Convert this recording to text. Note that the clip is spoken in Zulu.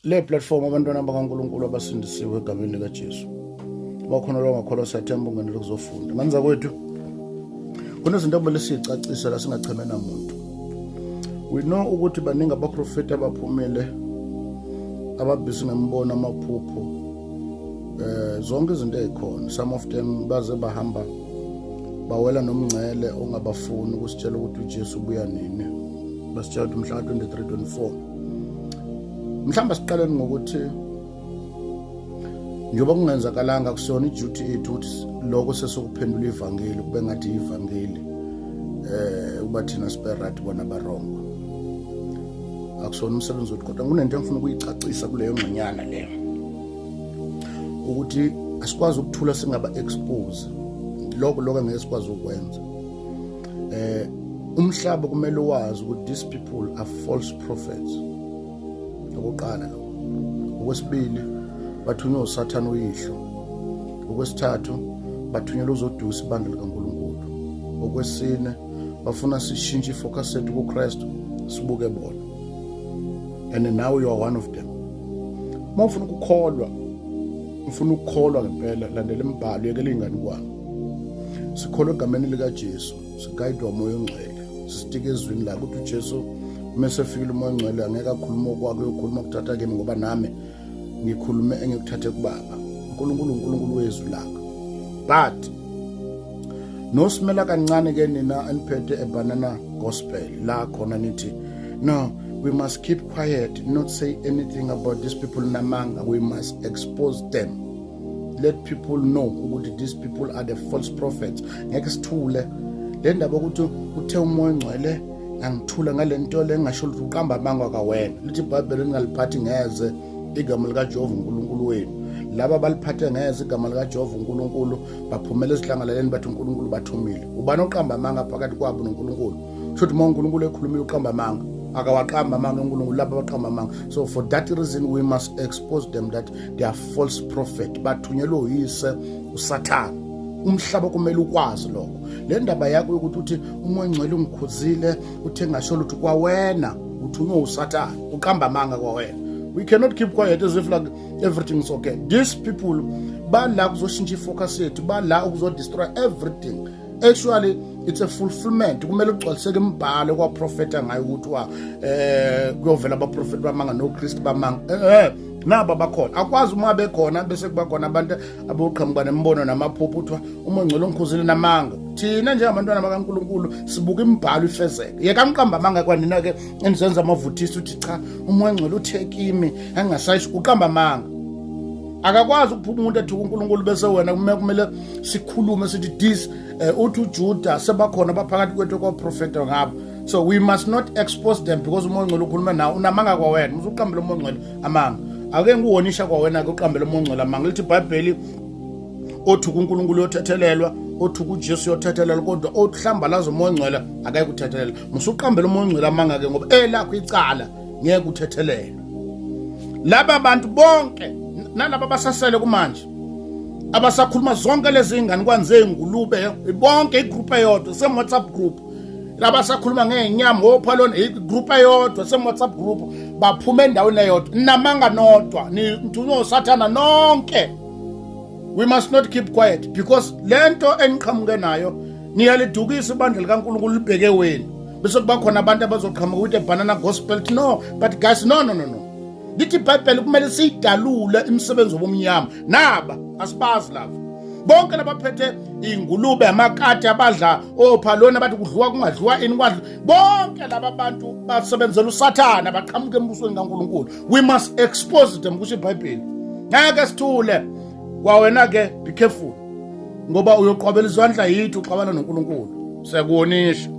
Le platform abantwana bakaNkulunkulu abasindisiwe egameni likaJesu. Bakhona lo ngakholwa siyathemba ungene lokuzofunda. Ngani zakwethu kunezinto okumele siyicacise la singacheme namuntu. We know ukuthi baningi abaprofeti abaphumile ababhisi ngemibono amaphupho eh zonke izinto ezikhona some of them baze bahamba bawela nomngcele ongabafuni ukusitshela ukuthi uJesu ubuya nini basitshela ukuthi mhla 23 24 mhlawumbe siqaleni ngokuthi njengoba kungenzakalanga kusona iduty ethu ukuthi lokho sesokuphendula ivangeli kube ngathi ivangeli eh uba thina sibe right bona barongo akusona umsebenzi wethu kodwa kunento engifuna ukuyicacisa kuleyo ngxenyana leyo ukuthi asikwazi ukuthula singaba expose lokho lokho ngeke sikwazi ukwenza eh umhlaba kumele wazi ukuthi these people are false prophets okokuqala lo okwesibili bathunywa usathane uyihlo okwesithathu bathunyelwa uzodusa ibandla likaNkulunkulu okwesine bafuna sishintshe ifocus sethu kuKristu sibuke bona and now you are one of them uma ufuna ukukholwa ufuna ukukholwa ngempela landela imibhalo yekela ingane kwami sikholwa egameni likaJesu sigayidwa umoya ongcwele sisitike ezwini lakhe ukuthi uJesu uma esefikile umoya ongcwele angeke akhulume okwakhe uyokhuluma kuthatha kimi ngoba nami ngikhulume engikuthathe kubaba uNkulunkulu uNkulunkulu wezwi lakhe but nosimela kancane ke nina eniphethe ebanana gospel la khona nithi no we must keep quiet not say anything about these people namanga we must expose them let people know ukuthi these people are the false prophets ngeke sithule le ndaba ukuthi uthe umoya ongcwele angithula ngale nto le ngingasho ukuthi uqamba amanga kawena lithi ibhayibheli ningaliphathi ngeze igama likajehova unkulunkulu wenu laba baliphathe ngeze igama likajehova unkulunkulu baphumela ezihlangalaleni bathi unkulunkulu bathumile ubani oqamba amanga phakathi kwabo nonkulunkulu kusho ukuthi uma unkulunkulu ekhulumile uqamba amanga akawaqamba amanga unkulunkulu laba abaqamba amanga so for that reason we must expose them that they are false prophet bathunyelwe uyise usathane umhlaba kumele ukwazi lokho le ndaba yakho yokuthi uthi umoya ongcwele ungikhuzile uthe ngasho lutho kwawena uthunywe usathane uqamba amanga kwawena we cannot keep quiet as if like everything is okay these people bala kuzoshintsha ifocus yethu bala ukuzodestroy everything actually it's a fulfillment kumele kugcwaliseke imibhalo kwaprofeta ngayo ukuthi wa eh kuyovela abaprofeti bamanga nokristu bamanga eh, eh. nabo abakhona akwazi uma bekhona bese kuba khona abantu aboqhamuka nemibono namaphupho kuthiwa uma ngcwele ongikhuzile namanga thina njengabantwana bakaNkuluNkulu sibuka imibhalo ifezeke yeka mqamba amanga kwanina ke enizenza amavuthisi uthi cha umoya ngcwele uthe kimi angasayisho uqamba amanga akakwazi ukuphuma umuntu athi uNkulunkulu bese wena kumele sikhulume sithi this eh, uthi uJuda sebakhona baphakathi kwethu kwaprofeta ngabo so we must not expose them because umoya ongcwele ukhuluma nawo unamanga kwawena uzuqambela umoya ongcwele amanga ake ngiwonisha kwawena-ke uqambela umoya ongcwele amanga lithi ibhayibheli othuka unkulunkulu yothethelelwa othuka ujesu yothethelelwa kodwa ohlambalaza umoya ongcwele akaye kuthethelela musuqambela umoya ongcwele amanga-ke ngoba elakho icala ngeke uthethelelwe laba bantu bonke nalaba basasele kumanje abasakhuluma zonke lezi ngane kwanze ingulube bonke igroup eyodwa same whatsapp group laba sakhuluma ngenyama wopha lona igroup eyodwa semu-whatsapp group baphuma endaweni eyodwa namanga nodwa nithunywa usathana nonke we must not keep quiet because le nto eniqhamuke nayo niyalidukisa ibandla likankulunkulu libheke wenu bese kuba khona abantu abazoqhamuka ukuthi ebanana gospel no but guys no no no no lithi ibhayibheli kumele siyidalule imisebenzi wobumnyama naba asibazi lava bonke labaphethe iy'ngulube amakati abadla ophaloni abathi kudliwa kungadliwa ini kwadla bonke laba bantu basebenzela usathane abaqhamuke embusweni kankulunkulu we must expose them kusho ibhayibheli ngeke sithule kwawena-ke be careful ngoba uyoqhwabela izandla yithi uxabana nonkulunkulu sekuwonisha